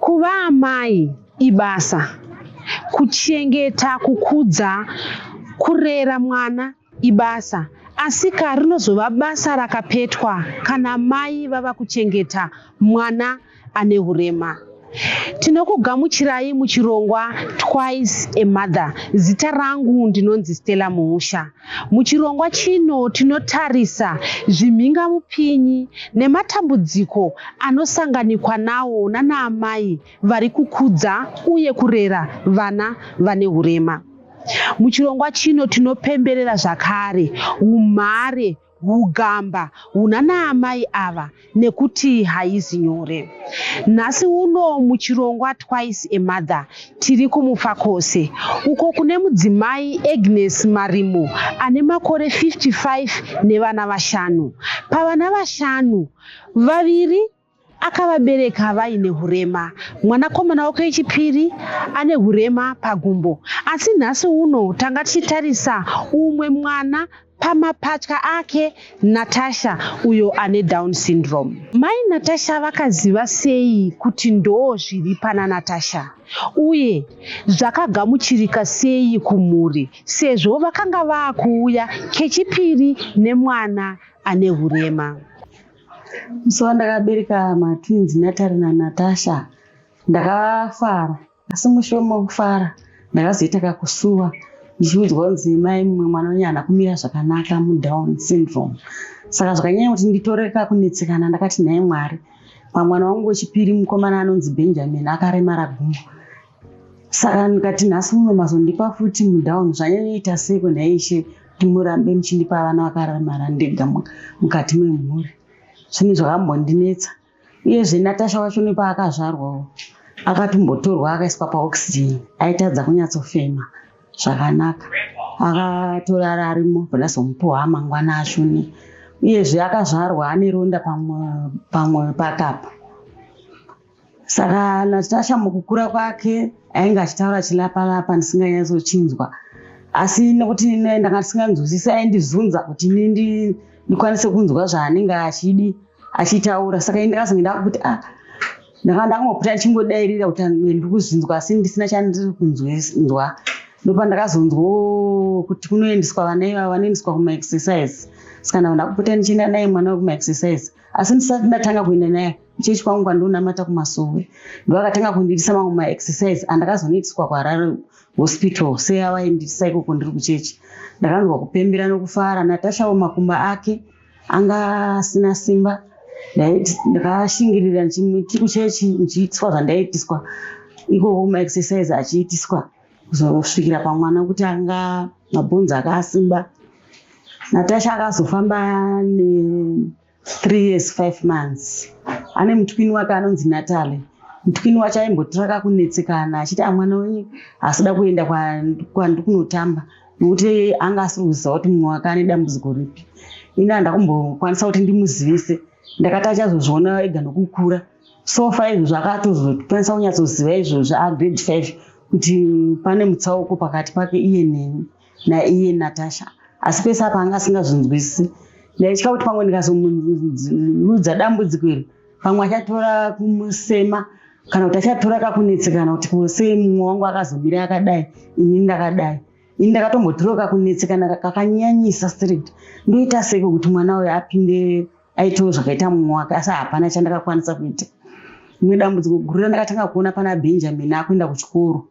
Kuva amai ibasa, kuchengeta, kukudza, kurera mwana ibasa asika rinozova basa rakapetwa kana mai vava kuchengeta mwana ane urema. Tinokugamuchirai muchirongwa Twice a Mother. Zita rangu ndinonzi Stella Muusha. Muchirongwa chino tinotarisa zvimhingamupinyi nematambudziko anosanganikwa nawo nanaamai vari kukudza uye kurera vana vane hurema. Muchirongwa chino tinopemberera zvakare umhare hugamba huna naamai ava nekuti haizi nyore. Nhasi uno muchirongwa Twice a Mother tiri kuMufakose uko kune mudzimai Agnes Marimo ane makore 55 nevana vashanu. Pavana vashanu, vaviri akavabereka vaine hurema. Mwanakomana wake wechipiri ane hurema pagumbo. Asi nhasi uno tanga tichitarisa umwe mwana pamapatya ake Natasha uyo ane Down syndrome. Mai Natasha vakaziva sei kuti ndoo zviri pana Natasha uye zvakagamuchirika sei kumhuri sezvo vakanga vaakuuya kechipiri nemwana ane hurema. musi wandakabereka matwins natari nanatasha ndakafara asi mushure mokufara ndakazoita kakusuwa ndichiudzwa kunzi mai mumwe mwana wenye hana kumira zvakanaka mudown syndrome saka zvakanyanya kuti nditore kakunetsekana ndakati nhai mwari pamwana wangu wechipiri mukomana anonzi benjamin akaremara gumbo saka ndikati nhasi uno mazondipa futi mudown zvanyanyoita seko nhaishe kuti murambe muchindipa vana vakaramara ndega mukati memhuri zvinhu zvakambondinetsa uyezve natasha wacho nepaakazvarwawo akatombotorwa akaiswa paoxygen aitadza kunyatsofema zvakanaka akatorara arimo bvanazomupuwa amangwana ashone uyezve akazvarwa ane ronda pamwe pakapa saka natasha mukukura kwake ainge achitaura chilapalapa ndisinganyatochinzwa asi nekuti ne- ndanga ndisinganzwisisi aindizunza kuti ini ndi- ndikwanise kunzwa zvaanenge achidi achitaura saka ini ndakazonge ndakuti ah ndanga ndakangopota ndichingodairira kuti amwe ndiri kuzvinzwa asi ndisina chandiri kunzwa ndopa ndakazonzwa "Oh, kuti kunoendeswa vana ivava vanoendeswa kumaexercise saka ndava ndakupota ndichienda naye mwana wekumaexercise asi ndisati ndatanga kuenda naye kuchechi kwangu kwandonamata kumasowe ndovakatanga kundiitisa mamwe maexercise andakazonoitiswa kuharare hospital sei avaindiitisa ikoko ndiri kuchechi ndakanzwa kupembera nokufara natashawo makumba ake anga asina simba ndakashingirira ndichiti kuchechi ndichiitiswa zvandaiitiswa ikoko maexercise achiitiswa kuzosvikira pamwana kuti anga mabhonzi akasimba natasha akazofamba ne Three years five months ane mutwini wake anonzi Natalie mutwini wacho aimbotiraka kunetsekana achiti amwana wenyu asida kuenda kwandi kunotamba nokuti anga asiri kuziva kuti mumwe wake ane dambudziko ripi ini handakumbokwanisa kuti ndimuzivise ndakati achazozviona ega nokukura sofa izvozvo akatozokwanisa kunyatsoziva izvozvo agrade five kuti pane mutsauko pakati pake iye neni naiye Natasha asi pese apa anga asingazvinzwisisi ndaitya kuti pamwe ndikazomuudza dambudziko iri pamwe achatora kumusema kana kuti achatora kakunetsekana kuti kose mumwe wangu akazomira akadai ini ndakadai ini ndakatombotirewo kakunetsekana kakanyanyisa strict ndoita seko kuti mwana uyo apinde aitewo zvakaita mumwe wake asi hapana chandakakwanisa kuita rimwe dambudziko guru randakatanga kuona pana benjamin akuenda kuchikoro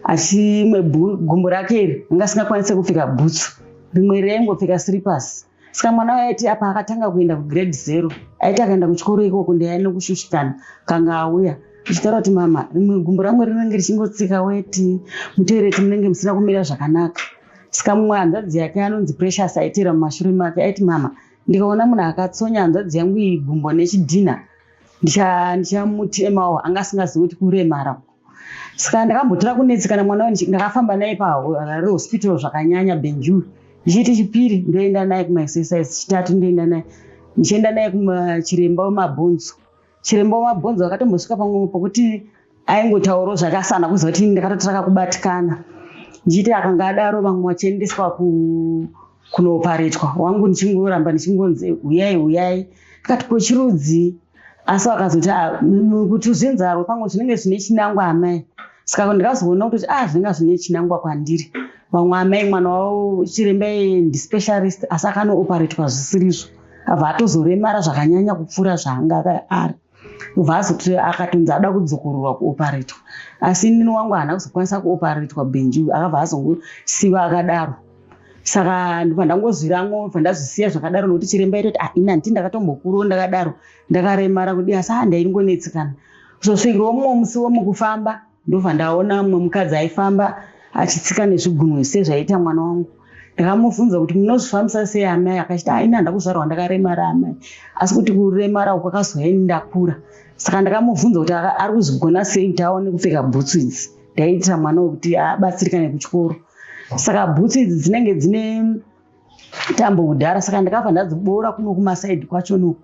asi imwe gumbo rake iri anga asingakwanise kupfeka bhutsu rimwe raingopfeka siripasi saka mwana waiti apa akatanga kuenda kugrade zero aiti akaenda kuchikoro ikoko ndiyane kushushikana kanga auya ichitaura kuti mama rimwe gumbo rangu rinenge richingotsika weti mutoireti munenge musina kumira zvakanaka saka mumwe hanzvadzi yake anonzi precious aitira mumashure make aiti mama ndikaona munhu akatsonya hanzvadzi yangu iyi gumbo nechidhinha ndichamuti emawo anga asingazivi kuti kuremara saka ndakambotira kunetsekana mwana wani ndakafamba naye parari hospital zvakanyanya benjur ndichiiti chipiri ndoenda naye kumaexercise chitatu ndoenda naye ndichienda naye kumachiremba wemabhonzo chiremba wemabhonzo akatombosvika pamwe pokuti aingotauro zvakasana kuziva kuti ndakatotiraka kubatikana ndichiiti akanga adaro vamwe vachiendeswa kunooparetwa wangu ndichingoramba ndichingonzi huyai huyai ndikati kochirudzii asi vakazoti ah, kuti zvinzarwe kwangu zvinenge zvine chinangwa amai saka ndikazoona kuti a ah, zvinenge zvine chinangwa kwandiri vamwe amai mwana wavo chiremba ndispecialist asi akanooparetwa zvisirizvo abva atozoremara zvakanyanya kupfuura zvaanga ari ubva azoti akatonzi ada kudzokororwa kuoparetwa asi inini wangu haana kuzokwanisa kuoparetwa benji akabva azongosiva akadaro saka ndibva ndangozwiramwo bva ndazvisiya zvakadaro nokuti chiremba itoti ah ini handiti ndakatombokuruwo ndakadaro ndakaremara kudii asi ah ndaingonetsekana kuzosvikirwa mumwe musi womukufamba ndobva ndaona mumwe mukadzi aifamba achitsika nezvigunwe sezvaiita mwana wangu ndakamubvunza kuti munozvifambisa sei amai akachiti ah, ini handakuzvarwa ndakaremara amai asi kuti kuremara uku akazoya ini ndakura saka ndakamubvunza kuti ari kuzvigona sei kuti aone kupfeka bhutsu idzi ndaiitira mwana wekuti abatsirikane kuchikoro ah, saka bhutsu idzi dzinenge dzine tambo kudhara saka ndakabva ndadziboora kuno kumasaidi kwacho no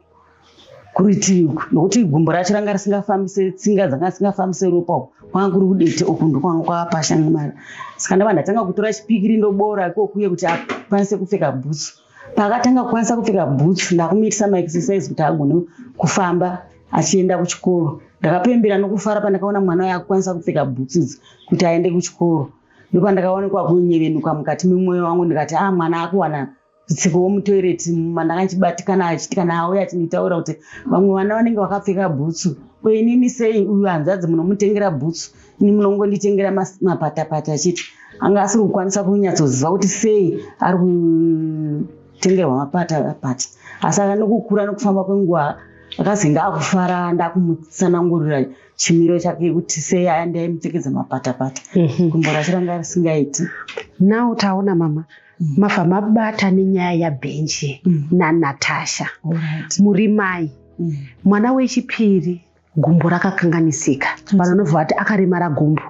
kuritivi uku nokuti gumbo racho ranga risingafambise tsinga dzanga dzisingafambise ropa uku kwanga kuri kudete uku ndokwanga kwapashanga mari saka ndava ndatanga kutora chipikiri ndoboora ikokuye kuti akwanise kupfeka bhutsu paakatanga kukwanisa kupfeka bhutsu ndakumiitisa maexercise kuti agone kufamba achienda kuchikoro ndakapembera nokufara pandakaona mwana uyo akukwanisa kupfeka bhutsu idzi kuti aende kuchikoro ndopandakaonekwa kunyevenuka mukati memwoyo wangu ndikati a ah, mwana akuwana tsiko womutoireti mandakanchibatikana achiti kana auya achinitaura kuti vamwe vana vanenge vakapfeka bhutsu ko inini sei uyu hanzvadzi munomutengera bhutsu ini munongonditengera mapatapata achiti anga asiri kukwanisa kunyatsoziva kuti sei ari kutengerwa mapatapata asi aka nokukura nokufamba kwenguva akazenge akufara ndakumutsanangurira chimiro chake kuti sei aya ndaimupfekedza mapatapata mhm. gumbo racho ranga risingaiti now taona mama mm. mabva mabata nenyaya yabhenji mm. nanatasha muri mai mm. mwana wechipiri gumbo rakakanganisika vanhu vanobva vati akaremara gumbo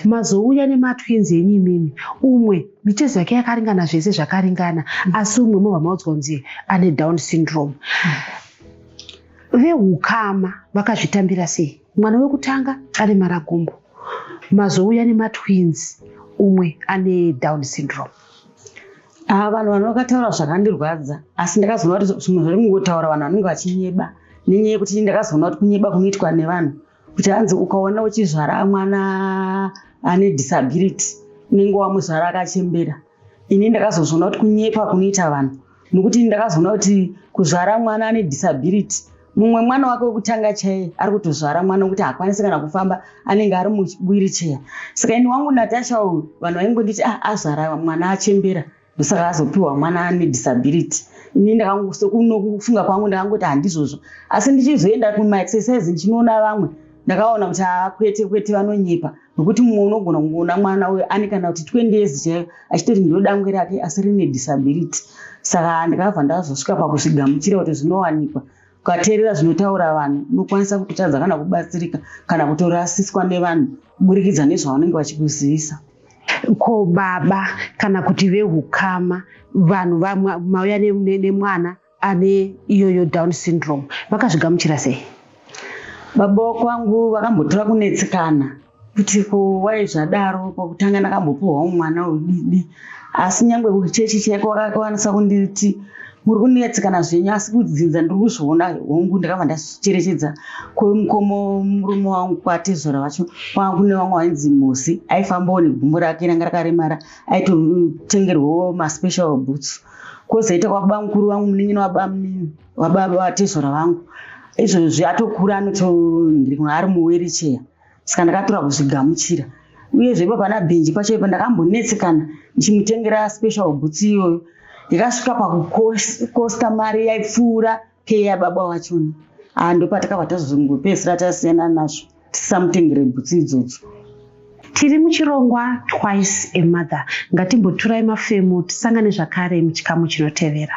mazouya nematwinzi enyu imimi umwe mitezo yake yakaringana zvese zvakaringana asi umwe mobva maudzwa kunzi ane down syndrome Vehukama vakazvitambira sei? Mwana wekutanga ane maragumbo, mazouya nematwins, umwe ane down syndrome. Haa ah, vanhu vano vakataura zvakandirwadza asi ndakazoona kuti munhu rimwe kutaura vanhu vanenge vachinyeba nenyaya yekuti ndakazoona kuti kunyeba kunoitwa nevanhu kuti hanzi ukaona uchizvara mwana ane disability unenge wamuzvara akachembera ini ndakazozviona kuti kunyepa kunoita vanhu nokuti ini ndakazoona kuti kuzvara mwana ane disability mumwe mwana wake wekutanga chaiye ari kutozvara mwana wekuti haakwanisi kana kufamba anenge ari muwiricheya saka ini wangu natasha uyu vanhu vaingonditi ah, azvara mwana achembera ah, ndosaka azopiwa mwana ane disability ini ndakangosokunokufunga kwangu ndakangoti handizvozvo asi ndichizoenda kumaexercise ndichinoona vamwe ndakaona kuti haa kwete kwete vanonyepa nokuti mumwe unogona kungoona mwana uyo ane kana kuti 20 years chaiyo achitoti ndodangwe rake asi rine disability saka ndakabva ndazosvika pakusvigamuchira kuti zvinowanikwa Ukateerera zvinotaura vanhu, unokwanisa kutotadza kana kubatsirika kana kutorasiswa nevanhu kuburikidza nezvavanenge vachikuzivisa. Ko baba kana kuti vehukama, vanhu mauya nemwana ane iyoyo down syndrome vakazvigamuchira sei? Baba kwangu vakambotora kunetsekana kuti ko wai zvadaro pakutanga ndakambopiwawo mwana udidi asi nyangwe kuchechi chaiko wakakwanisa kunditi muri kunetsekana zvenyu asi kudzinza ndiri kuzviona hongu ndakabva ndacherechedza kwemukomo murume wangu kwatezvara vacho kwanga kune vamwe vainzi mosi aifambawo negumbo rake ranga rakaremara aitotengerwawo maspecial boots kozoita kwababa mukuru vangu munin'ina wabamunini wababa vatezvara vangu izvozvi atokura anoto ndiri kuno ari muwiricheya saka ndakatora kuzvigamuchira uyezve ipo pana benji pacho ipo ndakambonetsekana ndichimutengera special boots iyoyo ndikasvika pakukosta mari yaipfuura pei yababa wachona aa ndopatakabva tazozongopedzisira tasiyana nazvo tisamutengere butsi idzodzo tiri muchirongwa twice a mother ngatimboturai mafemo tisangane zvakare muchikamu chinotevera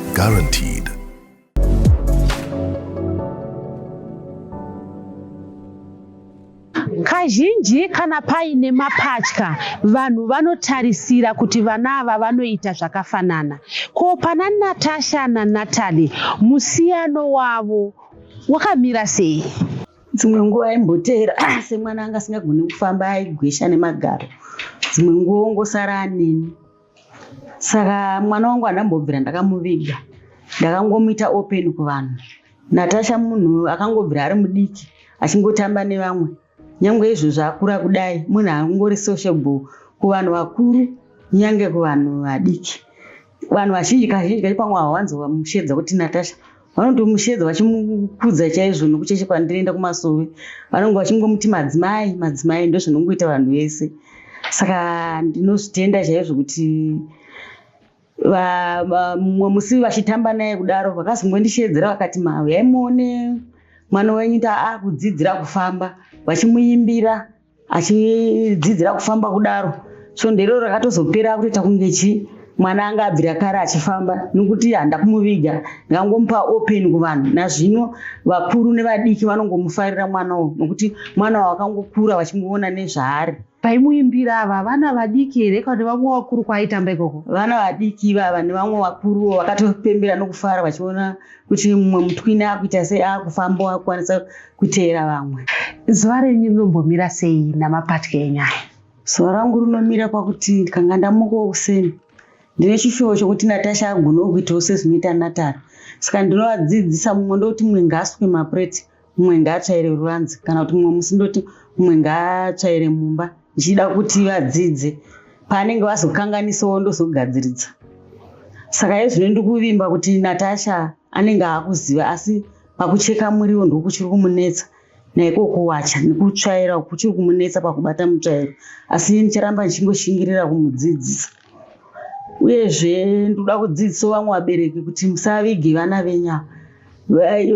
Guaranteed. Kazhinji kana paine mapatya, vanhu vanotarisira kuti vana ava vanoita zvakafanana. Ko pana Natasha naNatalie, musiyano wavo wakamira sei? Dzimwe nguva aimboteera semwana anga asingagoni kufamba aigwesha nemagaro. Dzimwe nguva ongosara aneni. saka mwana wangu handambobvira ndakamuviga ndakangomuita open kuvanhu natasha munhu akangobvira ari mudiki achingotamba nevamwe nyange izvozvo akura kudai munhu angori sociable kuvanhu vakuru nyange kuvanhu vadiki vanhu vazhinji kazhinji kacho pamwe hawanzova mushedza kuti natasha vanotomusheedza vachimukudza chaizvo nokuti cheshe kwandinoenda kumasovi vanonge vachingomuti madzimai madzimai ndozvinongoita vanhu vese saka ndinozvitenda chaizvo kuti mumwe musi vachitamba naye kudaro vakazongondisheedzera vakati mauyai muone mwana wenyu ta akudzidzira kufamba vachimuimbira achidzidzira kufamba kudaro svondo iroro rakatozopera akutoita kunge chii mwana anga abvira kare achifamba nokuti handa kumuviga ngangomupa open kuvanhu nazvino vakuru nevadiki vanongomufarira mwana uyu nokuti mwana wakangokura vachingoona nezvaari paimuimbira ava vana vadiki here kana vamwe vakuru kwaaitamba ikoko vana vadiki ivava nevamwe vakuruwo vakatopembera nokufara vachiona kuti mumwe mutwini akuita sei akufambawo akukwanisa kuteera vamwe. Zuva renyu rinombomira sei namapatya enyaya? Zuva rangu rinomira pakuti ndikanga ndamukawo kuseni ndine chishuwo chokuti Natasha agonewo kuitawo sezvinoita Natara. Saka ndinovadzidzisa mumwe ndoti mumwe ngaasuke mapureti, mumwe ngaatsvaire ruvanzi kana kuti mumwe musi ndoti mumwe ngaatsvaire mumba ndichida kuti vadzidze paanenge vazokanganisawo ndozogadziridza. Saka hezvino ndiri kuvimba kuti Natasha anenge akuziva asi pakucheka muriwo ndokuchiri kumunetsa naiko kuwacha nekutsvaira kuchiri kumunetsa pakubata mutsvairo asi iye ndicharamba ndichingoshingirira kumudzidzisa uyezve ndoda kudzidziso vamwe vabereki kuti musavige vana venya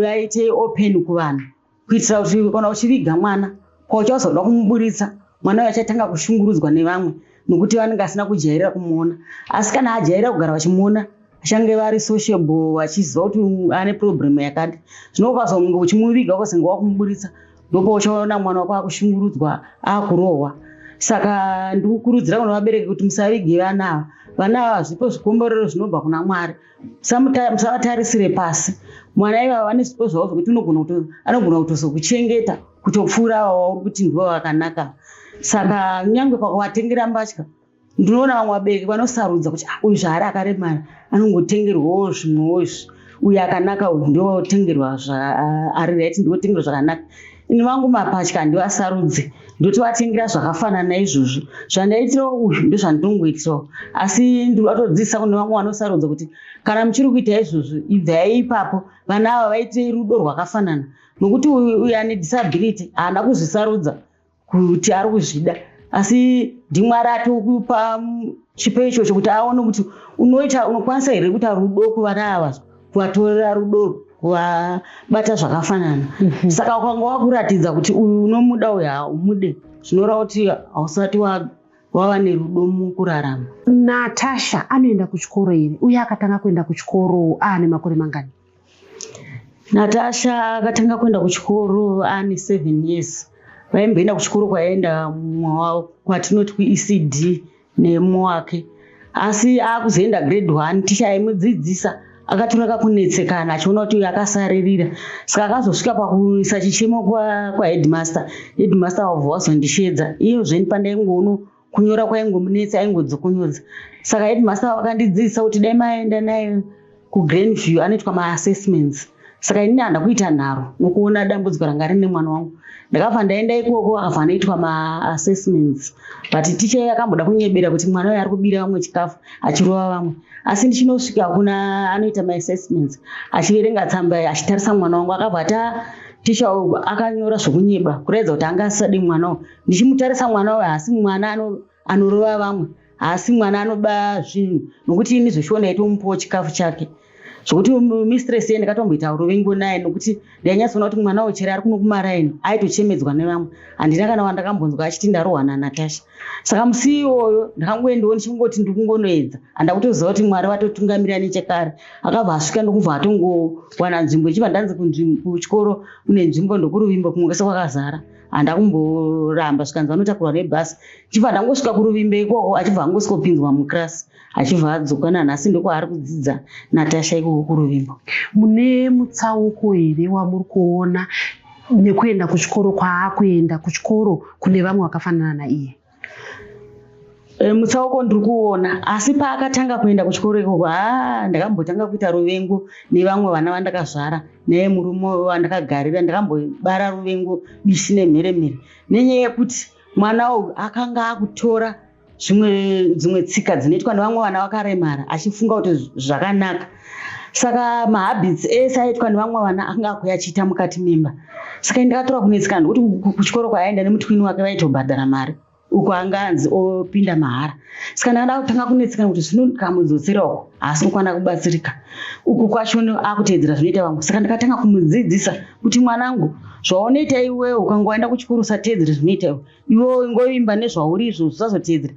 vaite open kuvanhu kuitira kuti kana uchiviga mwana Ko chazoda kumuburitsa mwana uyo achatanga kushungurudzwa nevamwe nokuti vanenge asina kujairira kumuona asi kana ajairira kugara vachimuona achange vari sociable vachiziva kuti ane problem yakati zvino ukazonge uchimuviga ukazenge wakumuburitsa ndopo uchaona mwana wako akushungurudzwa akurohwa saka ndikukurudzira kuna vabereki kuti musavige vana ava vana ava zvipo zvikomborero zvinobva kuna mwari musavatarisire pasi mwana ivava vane zvipo zvavo zvekuti anogona kutozokuchengeta kutopfuura ava wauri kuti ndivo vakanaka saka kunyange pakuvatengera mbatya ndinoona vamwe vabereki vanosarudza kuti ah, uyu zvaari akaremara anongotengerwawo zvimwewo izvi uyu akanaka uyu ndotengerwa ari right ndotengerwa zvakanaka ini vangu mapatya handivasarudze ndotovatengera zvakafanana izvozvo zvandaitirawo uyu ndozvandinongoitirawo asi ndiri vatodzidzisa kune vamwe vanosarudza kuti kana muchiri kuita izvozvo ibvai ipapo vana ava vaite rudo rwakafanana nokuti uyu ane disability haana kuzvisarudza kuti ari kuzvida asi ndimwari atokupa chipo ichocho kuti aone kuti unoita unokwanisa here kuita rudo kuvana ava kuvatorera rudo kuvabata zvakafanana mhm. saka ukanga wakuratidza kuti uyu unomuda uyu haumude zvinoreva kuti hausati wava nerudo mukurarama natasha anoenda kuchikoro here uye akatanga kuenda kuchikoro aane makore mangani natasha akatanga kuenda kuchikoro aane seven years vaimboenda kuchikoro kwaenda mumwe wavo kwatinoti kuecd nemu wake asi akuzoenda grade one ticha aimudzidzisa akatora kakunetsekana achiona kuti uyu akasaririra saka akazosvika pakuisa chichemo kwaheadmaster kwa headmaster wavo wazondisheedza iyo zveni pandaingoono kunyora kwaingomunetsa aingodzokonodza saka headmaster wakandidzidzisa kuti dai maenda naye kugreen view anoitwa maassessments saka ini ndanda kuita nharo nokuona dambudziko ranga rine mwana wangu ndakabva ndaenda ikoko akabva anoitwa maassessments but ticha iye akamboda kunyebera kuti mwana uyo ari kubira vamwe chikafu achirova vamwe asi ndichinosvika kuna anoita maassessments achiverenga tsamba iyi achitarisa mwana wangu akabva ati ah, ticha akanyora zvokunyeba kuraidza kuti anga asisadi mwana uyo ndichimutarisa mwana uyo haasi mwana ano anorova vamwe haasi mwana anoba zvinhu nokuti ini zvoshiona itomupawo chikafu chake zvokuti mistress ye ndakatomboita urovengo naye nokuti ndainyatsoona kuti mwana wochere ari kuno kumaraini aitochemedzwa nevamwe handina kana wandakambonzwa achiti ndarohwa nanatasha saka musi iwoyo ndakangoendawo ndichingoti ndikungonoedza handa kutoziva kuti mwari vatotungamirira nechekare akabva asvika ndokubva atongowana nzvimbo ichibva ndanzi kuchikoro kune nzvimbo ndokuruvimbo kumwe kwese kwakazara handa kumboramba zvikanzi vanotakurwa nebhasi chibva ndangosvika kuruvimbe ikoko achibva angosvika kupinzwa muclass achibva adzoka nanhasi ndokwaari kudzidza natasha ikoko kuruvimbo mune mutsauko here wamuri kuona nekuenda kuchikoro kwaakuenda kuchikoro kune vamwe vakafanana naiye Eh, mutsauko ndiri kuona asi paakatanga kuenda kuchikoro ikoko ha ndakambotanga kuita ruvengo nevamwe vana vandakazvara naye murume wandakagarira ndakambobara ruvengo bishi nemhere mhere nenyaya yekuti mwana uyu akanga akutora dzimwe tsika dzinoitwa nevamwe vana vakaremara achifunga kuti zvakanaka saka mahabits ese aitwa nevamwe vana akanga akuya achiita mukati memba saka ndakatora kunetsikana nekuti kuchikoro kwaaenda nemutwini wake vaitobhadhara mari uko anga anzi opinda mahara saka ndakada kutanga kunetsikana kuti zvino ndikamudzosera uko haasi kukwana kubatsirika uku kwacho akuteedzera zvinoita vamwe saka ndakatanga kumudzidzisa kuti mwanangu zvaunoita iwewe ukangoenda kuchikoro usateedzere zvinoita iwe iwe ingoimba nezvauri izvo zvisazoteedzera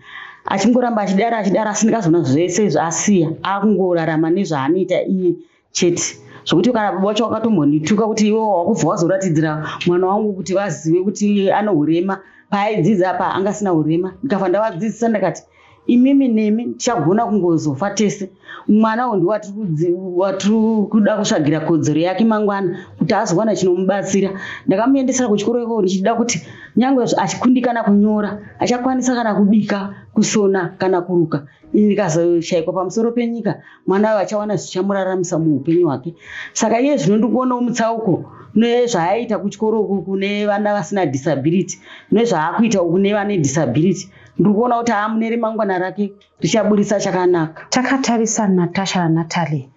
achingoramba achidara achidara asi ndikazoona zvese zvaasiya akungorarama nezvaanoita iye chete zvekuti kana baba vacho vakatombondituka kuti iwe wakubva wazoratidzira mwana wangu kuti vazive kuti anourema paaidzidza apa angasina urema ndikafa ndavadzidzisa ndakati imimi nemi tichagona kungozofa tese mwana wo ndiwatiri kuda kutsvagira kodzero yake mangwana kuti azowana chinomubatsira ndakamuendesera kuchikoro ikoko ndichida kuti nyange achikundikana kunyora achakwanisa kana kubika kusona kana kuruka ini ndikazoshaikwa pamusoro penyika mwana wayo achawana zvichamuraramisa muupenyu hwake saka iye zvino ndikuonawo mutsauko nezvaaita kuchikoro ukuku nevana vasina disability nezvaakuita uku nevane disability ndiri kuona kuti haa mune remangwana rake richaburitsa chakanaka takatarisa natasha nanatalie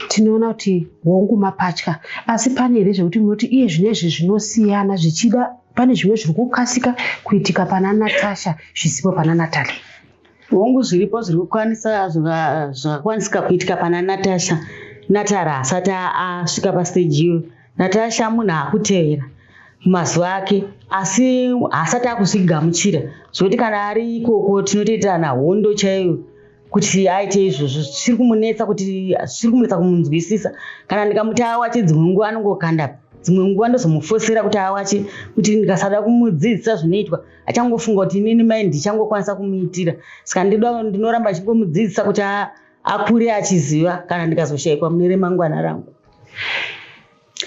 tinoona kuti hongu mapatya asi pane here zvekuti munoti iye zvine izvi zvinosiyana zvichida pane zvimwe zviri kukasika kuitika pana natasha zvisipo pana natalie hongu zviripo zviri kukwanisa zvakakwanisika kuitika pana natasha natara asati asvika pasteji iyoyo natasha munhu akutevera mazuva ake asi haasati akuzvigamuchira zvekuti kana ari ikoko tinotoitirana hondo chaiyo kuti aite izvozvo zvisiri kumunetsa kuti zvisiri kumunetsa kumunzwisisa kana ndikamuti awache dzimwe nguva anongokanda dzimwe nguva ndozomufosera kuti awache kuti ndikasada kumudzidzisa zvinoitwa achangofunga kuti inini mai ndichangokwanisa kumuitira saka ndinoramba achingomudzidzisa kuti akure achiziva kana ndikazoshaikwa mune remangwana rangu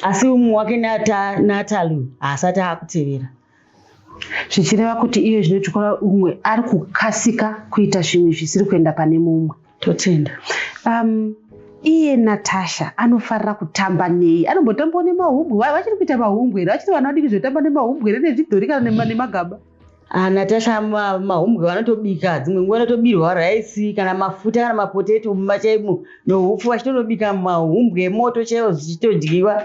asi umwe wake natalu haasati akutevera zvichireva kuti iye zvinotikora umwe ari kukasika kuita zvimwe zvisiri kuenda pane mumwe totenda um, iye natasha anofarira kutamba nei anombotambawo nemahumbwe vachiri kuita mahumbwe here vachiri vana vadiki zvekutamba nemahumbwe here nezvidhori kana nemagaba Ah, Natasha ma- mahumbwe vanotobika dzimwe nguva vanotobirwa raisi kana mafuta kana mapoteto mumba chaimo nohupfu vachitonobika mahumbwe emoto chaiwo zvichitodyiwa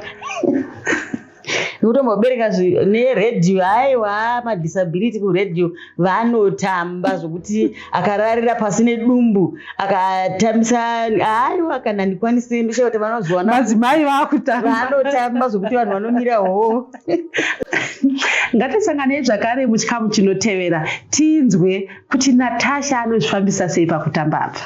kutombobereka zvi- neredhiyo aiwa madisability kuredhiyo vanotamba zvokuti akararira pasi nedumbu akatambisa aiwa kana ndikwanise ndisha kuti vanozowana madzimai vakutanotamba zvokuti vanhu vanomira hoo ngatisanganei zvakare muchikamu chinotevera tinzwe kuti natasha anozvifambisa sei pakutamba apa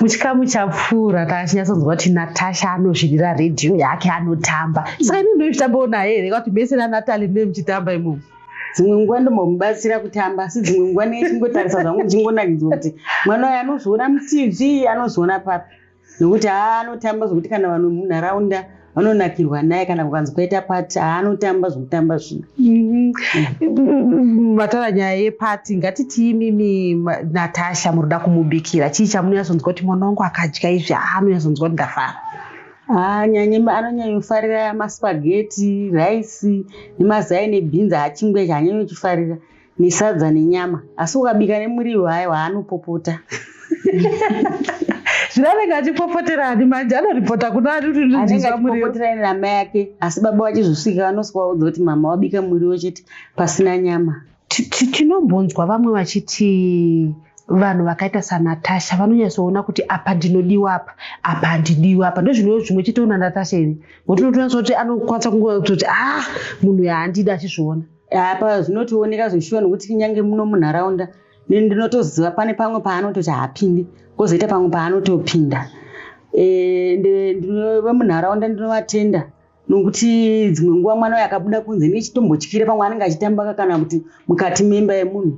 muchikamu chapfuura taachinyatsonzwa kuti natasha anozvirira redhiyo yake anotamba saka ini ndoitambawo naye here kwati mese nanatali ndine muchitamba imomo dzimwe nguva ndombomubatsira kutamba asi dzimwe nguva nei chingotarisa zvangu ndichingonakidzwa kuti mwana uyo anozviona mutv anozviona papi nokuti haa anotamba zvokuti kana vanhu munharaunda vanonakirwa naye kana kukanzi kwaita pati haanotamba zvokutamba zvino mhm. mm. vataura nyaya yepati ngatitii mimi natasha munoda kumubikira chii chamunonyasonzwa kuti mwana wangu akadya izvi haanonyasonzwa kuti ndafara anyanye anonyanyofarira maspageti raisi nemazai nebhinzi hachingwe chanyanyochifarira nesadza nenyama asi ukabika nemuriwo hayo haanopopota zviranenge achipopotera ani manje anoripota kuna ani kuti ndinzwamuriopotera ine namai yake asi baba vachizosvika vanoswa vaudza kuti mama wabika muriwo chete pasina nyama tinombonzwa vamwe vachiti vanhu vakaita sanatasha vanonyatsoona kuti apa ndinodiwa apa apa handidiwa apa ndozvino zvimwe chitoona natasha iri ngotinotonyatsoona kuti anokwanisa kungoa kutoti ah munhu yahandidi achizviona apa zvinotooneka zveshuwa nokuti kunyange muno munharaunda ndinotoziva pane pamwe paanototi haapindi kozoita pamwe paanotopinda eh, vemunharaunda ndinovatenda nokuti dzimwe nguva mwana uyo akabuda kunze nechitombotyira pamwe anenge achitambaka kana kuti mukati memba yemunhu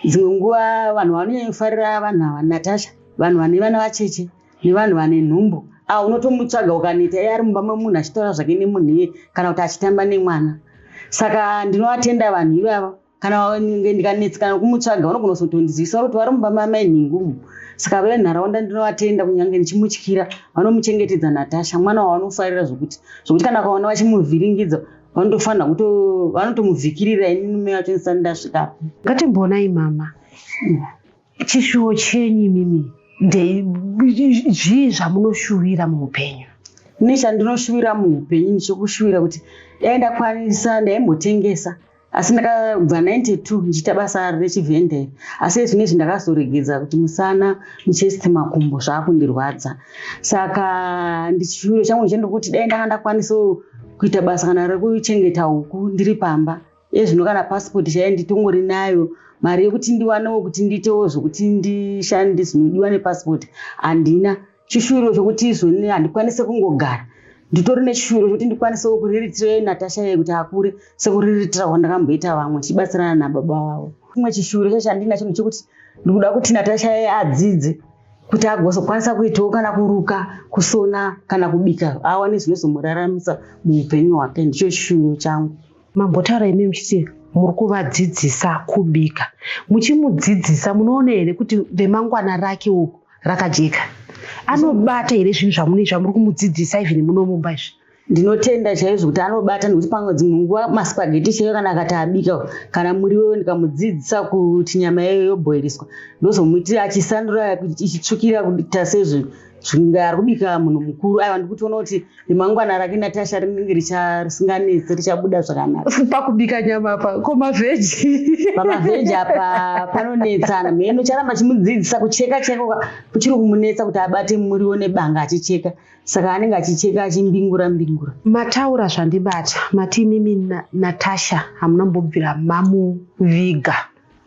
dzimwe nguva vanhu vanonyanyofarira vanhu ava natasha vanhu vane vana vacheche nevanhu vane nhumbu a unotomutsvaga ukaneta iye ari mumba memunhu achitaura zvake nemunhu iye kana kuti achitamba nemwana saka ndinovatenda vanhu ivava kana ndikanetsikana kumutsvaga vanogona kuzotondizivisa kuti vari mumba mamai nhingumu saka venharaunda ndinovatenda kunyange ndichimutyira vanomuchengetedza natasha mwana wavanofarira zvokuti zvokuti kana kaona vachimuvhiringidza vanotofanira kuto vanotomuvhikirira ini nume vacho ndisati ndasvikapo ngatimboonai mama mm. Chishuwo chenyu imimi zvii zvamunoshuvira muupenyu? Ini chandinoshuvira muupenyu ndichikushuvira kuti dai ndakwanisa ndaimbotengesa asi ndakabva 92 ndichiita basa rechivhenderi asi zvine izvi ndakazoregedza kuti musana muchest makumbo zvaakundirwadza saka ndichishuviro changu ndichende kuti dai ndanga ndakwanisa kuita basa kana rekuchengeta huku ndiri pamba iye zvino kana passport chaiye nditongori nayo mari yekuti ndiwanewo kuti ndiitewo zvokuti ndishande zvinodiwa nepassport handina chishuwiro chokuti izvoni handikwanise kungogara nditori nechishuwiro chokuti ndikwanisewo kuriritira natasha ye kuti akure sekuriritira kwandakamboita vamwe chibatsirana nababa vavo chimwe chishuwiro chacho chandinacho ndechokuti ndikuda kuti natasha ye adzidze kuti agozokwanisa kuitawo kana kuruka kusona kana kubika awane zvinozomuraramisa muupenyu hwake ndicho chishuwiro changu mambotaura imi muchiti muri kuvadzidzisa kubika muchimudzidzisa munoona here kuti remangwana rake uku rakajeka anobata here zvinhu zvamune zvamuri kumudzidzisa even munomumba izvi ndinotenda chaizvo kuti anobata nekuti pamwe dzimwe nguva maspageti chaiyo kana akati abika kana muriwo ndikamudzidzisa kuti nyama yayo yoboiriswa ndozomuitira achisandura ichitsvukira kuita sezvinhu Chinga ari kubika munhu mukuru aiwa ndikutoona kuti remangwana rake natasha rinenge richasinganetsi richabuda zvakanaka pakubika nyama pa ko mavheji pamavheji apa panonetsana mheno charamba chimudzidzisa kucheka cheka kuchiri kumunetsa kuti abate muriwo nebanga achicheka saka anenge achicheka achimbingura mbingura mataura zvandibata mati imimi natasha hamuna mbobvira mamuviga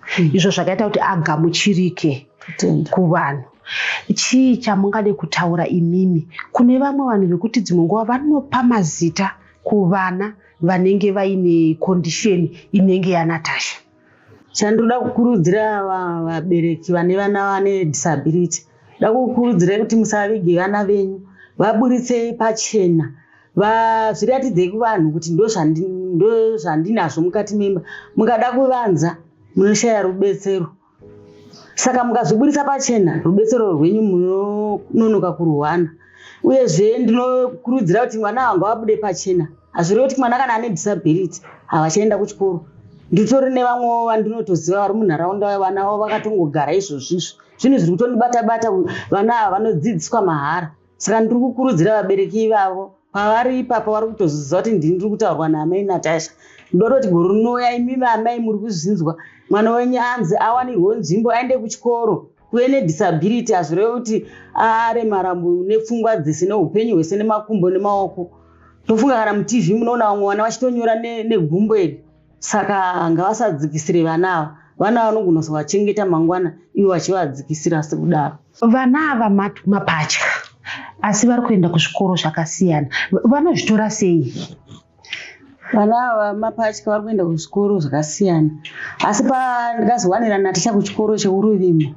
hmm. izvo zvakaita kuti agamuchirike kuvanhu chii chamungade kutaura imimi kune vamwe vanhu vekuti dzimwe nguva vanopa mazita kuvana vanenge vaine kondisheni inenge yanatasha chandoda kukurudzira vabereki vane vana vane disability da kukurudzira kuti musavige vana venyu vaburitsei pachena vazviratidzei kuvanhu kuti ndozvandinazvo mukati memba mukada kuvanza munoshaya rubetsero saka mukazviburitsa pachena rubetsero rwenyu munononoka kuruhwana uyezve ndinokurudzira kuti mwana wangu abude pachena hazvirevi kuti mwana kana ane disability havachaenda kuchikoro nditori nevamwewo vandinotoziva vari munharaunda vana vavo vakatongogara izvozvizvo zvinhu zviri kutondibata bata vana ava vanodzidziswa mahara saka ndiri kukurudzira vabereki ivavo pavari ipapo vari kutozviziva kuti ndini ndiri kutaurwa naamai natasha ndototi gore rinouya imi vaamai muri kuzvinzwa mwana wenyu anzi awanirwo nzvimbo aende kuchikoro kuve nedisability hazvireve kuti aremara nepfungwa dzese neupenyu hwese nemakumbo nemaoko tofunga kana mutv munoona vamwe vana vachitonyora negumbo iri saka ngavasadzikisire vana ava vana vanogona kuzovachengeta mangwana ivo vachivadzikisira sekudaro vana ava mapatya asi vari kuenda kuzvikoro zvakasiyana vanozvitora sei vana ava mapatya vari kuenda kuzvikoro zvakasiyana asi pandikazowanira naticha kuchikoro cheuruvimbo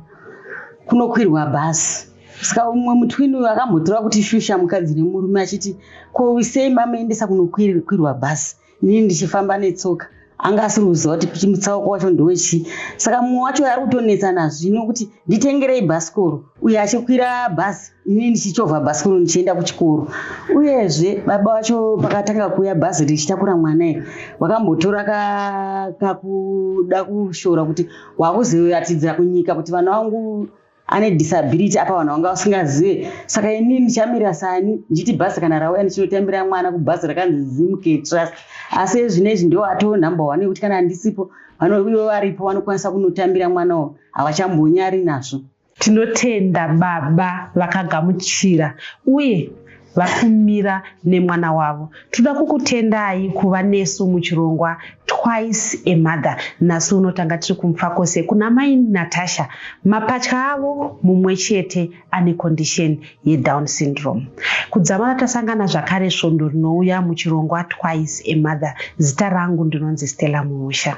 kunokwirwa bhasi saka umwe mutwini uyu akambotora kuti shusha mukadzi nemurume achiti ko sei mamaendesa kunokwirwa bhasi ini ndichifamba netsoka anga asiri kuziva kuti kuti mutsauko wacho ndowechii saka mumwe wacho ari kutonetsa nazvino kuti nditengerei bhasikoro uye achikwira bhasi ini ndichichovha bhasikoro ndichienda kuchikoro uyezve baba vacho pakatanga kuuya bhazi richitakura mwana iri vakambotora kakuda kushora kuti wakuzoyatidzira kunyika kuti vana vangu ane disability apa vanhu vanga vasingazive saka ini ndichamira sani ndichiti bhazi kana rauya ndichinotambira mwana kubhazi rakanzi zimk trust asi ezvino izvi ndo atoo number one yekuti kana handisipo vanoivo varipo vanokwanisa kunotambira mwana wo havachambonyari nazvo tinotenda baba vakagamuchira uye vari kumira nemwana wavo tinoda kukutendai kuva nesu muchirongwa twice a mother nhasi uno tanga tiri kumufakose kuna mai natasha mapatya avo mumwe chete ane condition yedown syndrome kudzamara tasangana zvakare svondo rinouya muchirongwa twice a mother zita rangu ndinonzi stella muusha